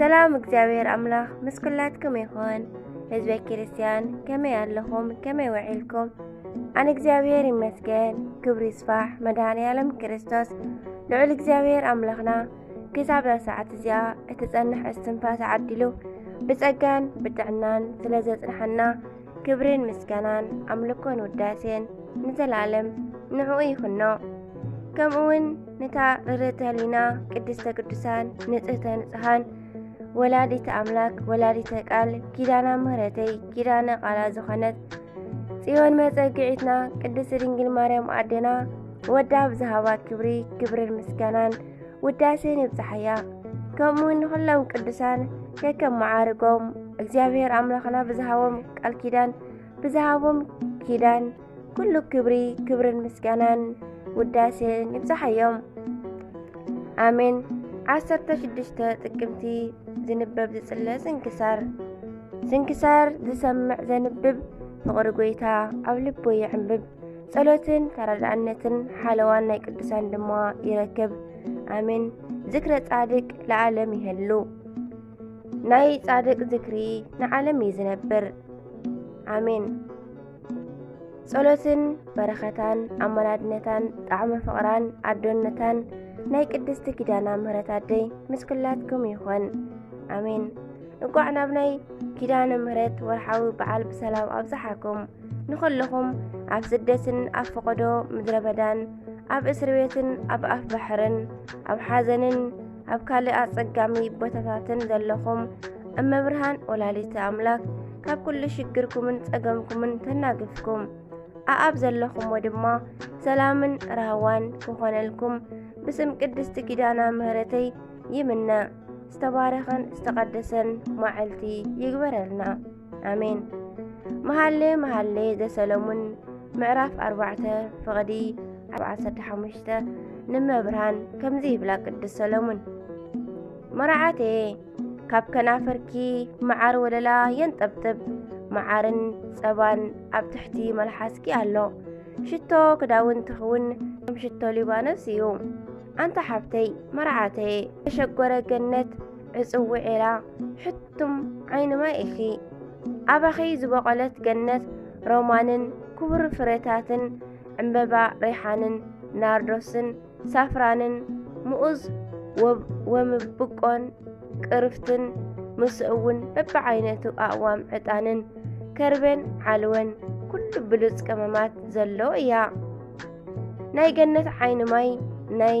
ሰላም እግዚኣብሔር ኣምላኽ ምስ ኩላትኩም ይኹን። ህዝበ ክርስቲያን ከመይ ኣለኹም? ከመይ ውዒልኩም? ኣነ እግዚኣብሔር ይመስገን። ክብሪ ይስፋሕ መድሃኒ ዓለም ክርስቶስ ልዑል እግዚኣብሔር ኣምላኽና ክሳብ ሰዓት እዚኣ እትጸንሕ እስትንፋስ ዓዲሉ ብጸጋን ብጥዕናን ስለ ዘጽንሓና ክብርን ምስጋናን ኣምልኮን ውዳሴን ንዘለኣለም ንዕኡ ይኹኖ ከምኡ ውን ነታ ርርተ ህሊና ቅድስተ ቅዱሳን ንጽህተ ንጽሃን ወላዲተ ኣምላክ ወላዲተ ቃል ኪዳና ምህረተይ ኪዳነ ቃላ ዝኾነት ጽዮን መጸግዒትና ቅድስቲ ድንግል ማርያም ኣዴና ወዳ ብዝሃባ ክብሪ ክብርን ምስጋናን ውዳሴን ይብጽሓያ ከምኡውን ንዅሎም ቅዱሳን ከከም መዓርጎም እግዚኣብሔር ኣምላኽና ብዝሃቦም ቃል ኪዳን ብዝሃቦም ኪዳን ኩሉ ክብሪ ክብርን ምስጋናን ውዳሴን ይብጽሓዮም ኣሜን 16 ጥቅምቲ ዝንበብ ዝጽለ ስንክሳር ስንክሳር ዝሰምዕ ዘንብብ ፍቕሪ ጐይታ ኣብ ልቡ ይዕምብብ ጸሎትን ተረዳእነትን ሓለዋን ናይ ቅዱሳን ድማ ይረክብ። ኣሜን። ዝክረ ጻድቅ ለዓለም ይህሉ ናይ ጻድቅ ዝክሪ ንዓለም እዩ ዝነብር። ኣሜን። ጸሎትን በረኸታን ኣመላድነታን ጣዕመ ፍቕራን ኣዶነታን ናይ ቅድስቲ ኪዳና ምህረት ኣደይ ምስ ኩላትኩም ይኹን ኣሜን። እንቋዕ ናብ ናይ ኪዳነ ምህረት ወርሓዊ በዓል ብሰላም ኣብዝሓኩም። ንኹልኹም ኣብ ስደትን ኣብ ፈቐዶ ምድረ በዳን ኣብ እስር ቤትን ኣብ ኣፍ ባሕርን ኣብ ሓዘንን ኣብ ካልእ ኣጸጋሚ ቦታታትን ዘለኹም እመብርሃን ወላዲተ ኣምላክ ካብ ኩሉ ሽግርኩምን ጸገምኩምን ተናግፍኩም ኣኣብ ዘለኹሞ ድማ ሰላምን ራህዋን ክኾነልኩም ብስም ቅድስቲ ኪዳና ምህረተይ ይምነ ዝተባረኸን ዝተቐደሰን ማዕልቲ ይግበረልና ኣሜን መሃሌ መሃሌ ዘሰለሙን ምዕራፍ ኣርባዕተ ፍቕዲ ኣብ ዓሰርተ ሓሙሽተ ንመብርሃን ከምዚ ይብላ ቅዱስ ሰለሙን መርዓቴ ካብ ከናፈርኪ መዓር ወለላ የንጠብጥብ መዓርን ጸባን ኣብ ትሕቲ መልሓስኪ ኣሎ ሽቶ ክዳውንቲ ኽውን ከም ሽቶ ሊባኖስ እዩ ኣንታ ሓብተይ መርዓተይ ተሸጎረ ገነት ዕጽው ዒላ ሕቱም ዓይኒ ማይ ኢኺ ኣባኺ ዝበቖለት ገነት ሮማንን ክቡር ፍረታትን ዕምበባ ሪሓንን ናርዶስን ሳፍራንን ምኡዝ ወምብቆን ቅርፍትን ምስኡውን በብዓይነቱ ኣእዋም ዕጣንን ከርበን ዓልወን ኩሉ ብሉጽ ቀመማት ዘሎ እያ ናይ ገነት ዓይኒ ማይ ናይ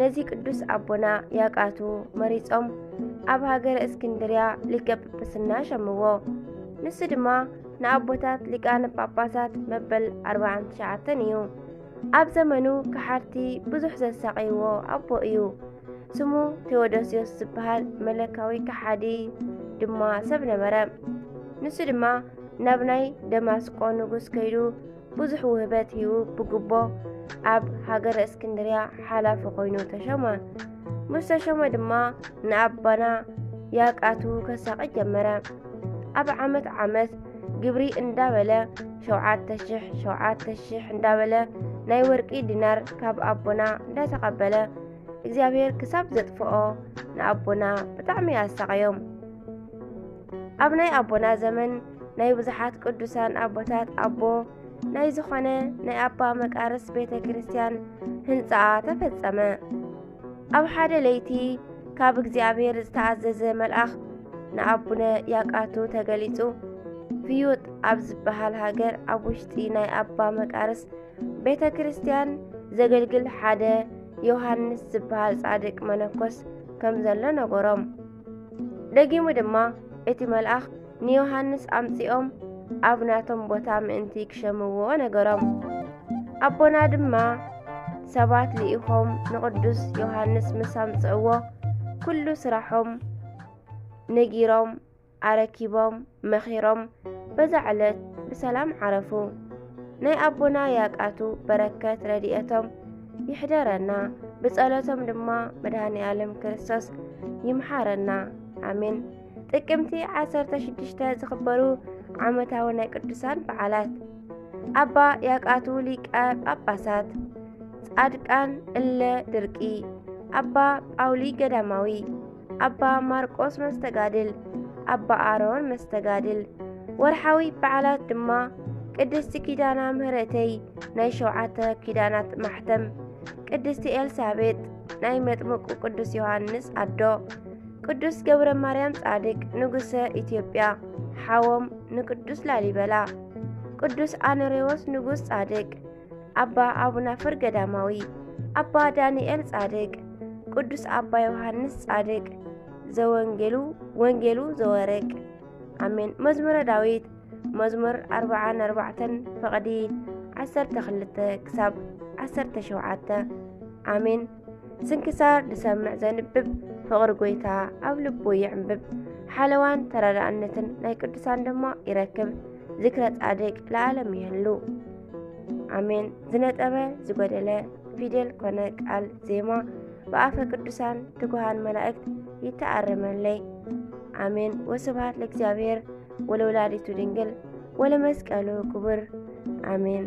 ነዚ ቅዱስ ኣቦና ያቃቱ መሪጾም ኣብ ሃገረ እስክንድርያ ሊቀ ጵጵስና ሸምዎ። ንሱ ድማ ንኣቦታት ሊቃነ ጳጳሳት መበል 49 እዩ። ኣብ ዘመኑ ከሓድቲ ብዙሕ ዘሳቐይዎ ኣቦ እዩ። ስሙ ቴዎዶስዮስ ዝበሃል መለካዊ ከሓዲ ድማ ሰብ ነበረ። ንሱ ድማ ናብ ናይ ደማስቆ ንጉስ ከይዱ ብዙሕ ውህበት ሂቡ ብግቦ ኣብ ሃገረ እስክንድርያ ሓላፊ ኮይኑ ተሸመ። ምስ ተሸመ ድማ ንኣባና ያቃቱ ከሳቂ ጀመረ። ኣብ ዓመት ዓመት ግብሪ እንዳበለ ሸውዓተ ሽሕ ሸውዓተ ሽሕ እንዳበለ ናይ ወርቂ ዲናር ካብ ኣቦና እንዳተቐበለ እግዚኣብሔር ክሳብ ዘጥፍኦ ንኣቦና ብጣዕሚ ኣሳቐዮም። ኣብ ናይ ኣቦና ዘመን ናይ ብዙሓት ቅዱሳን ኣቦታት ኣቦ ናይ ዝኾነ ናይ ኣባ መቃርስ ቤተ ክርስቲያን ህንፃኣ ተፈጸመ። ኣብ ሓደ ለይቲ ካብ እግዚኣብሔር ዝተኣዘዘ መልኣኽ ንኣቡነ ያቃቱ ተገሊጹ ፍዩጥ ኣብ ዝበሃል ሃገር ኣብ ውሽጢ ናይ ኣባ መቃርስ ቤተ ክርስቲያን ዘገልግል ሓደ ዮሃንስ ዝበሃል ጻድቅ መነኮስ ከም ዘሎ ነገሮም። ደጊሙ ድማ እቲ መልኣኽ ንዮሃንስ ኣምጺኦም ኣብ ናቶም ቦታ ምእንቲ ክሸምዎ ነገሮም። ኣቦና ድማ ሰባት ልኢኾም ንቕዱስ ዮሃንስ ምስ ኣምጽእዎ ኩሉ ስራሖም ነጊሮም ኣረኪቦም መኺሮም በዛ ዕለት ብሰላም ዓረፉ። ናይ ኣቦና ያቃቱ በረከት ረድኤቶም ይሕደረና፣ ብጸሎቶም ድማ መድኃኔ ዓለም ክርስቶስ ይምሓረና። ኣሜን። ጥቅምቲ 16 ዝኽበሩ ዓመታዊ ናይ ቅዱሳን በዓላት ኣባ ያቃቱ ሊቀ ጳጳሳት፣ ጻድቃን እለ ድርቂ፣ ኣባ ጳውሊ ገዳማዊ ኣባ ማርቆስ መስተጋድል፣ ኣባ ኣሮን መስተጋድል። ወርሓዊ በዓላት ድማ ቅድስቲ ኪዳና ምህረተይ ናይ ሸውዓተ ኪዳናት ማሕተም፣ ቅድስቲ ኤልሳቤጥ ናይ መጥምቁ ቅዱስ ዮሃንስ ኣዶ፣ ቅዱስ ገብረ ማርያም ጻድቅ ንጉሰ ኢትዮጵያ ሓዎም ንቅዱስ ላሊበላ፣ ቅዱስ ኣኖሬዎስ ንጉስ ጻድቅ ኣባ ኣቡናፍር ገዳማዊ፣ ኣባ ዳንኤል ጻድቅ፣ ቅዱስ ኣባ ዮሐንስ ጻድቅ ዘወንጌሉ ወንጌሉ ዘወርቅ ኣሜን። መዝሙረ ዳዊት መዝሙር ኣርብዓን ኣርባዕተን ፈቕዲ ዓሰርተ ክልተ ክሳብ ዓሰርተ ሸውዓተ ኣሜን። ስንክሳር ዝሰምዕ ዘንብብ ፍቕሪ ጎይታ ኣብ ልቡ ይዕንብብ ሓለዋን ተረዳእነትን ናይ ቅዱሳን ድማ ይረክብ። ዝክረ ጻድቅ ለዓለም ይህሉ። ኣሜን። ዝነጠበ ዝጎደለ ፊደል ኮነ ቃል ዜማ ብኣፈ ቅዱሳን ትጉሃን መላእክት ይተኣረመለይ። ኣሜን። ወስብሐት ለእግዚአብሔር ወለወላዲቱ ድንግል ወለመስቀሉ ክቡር ኣሜን።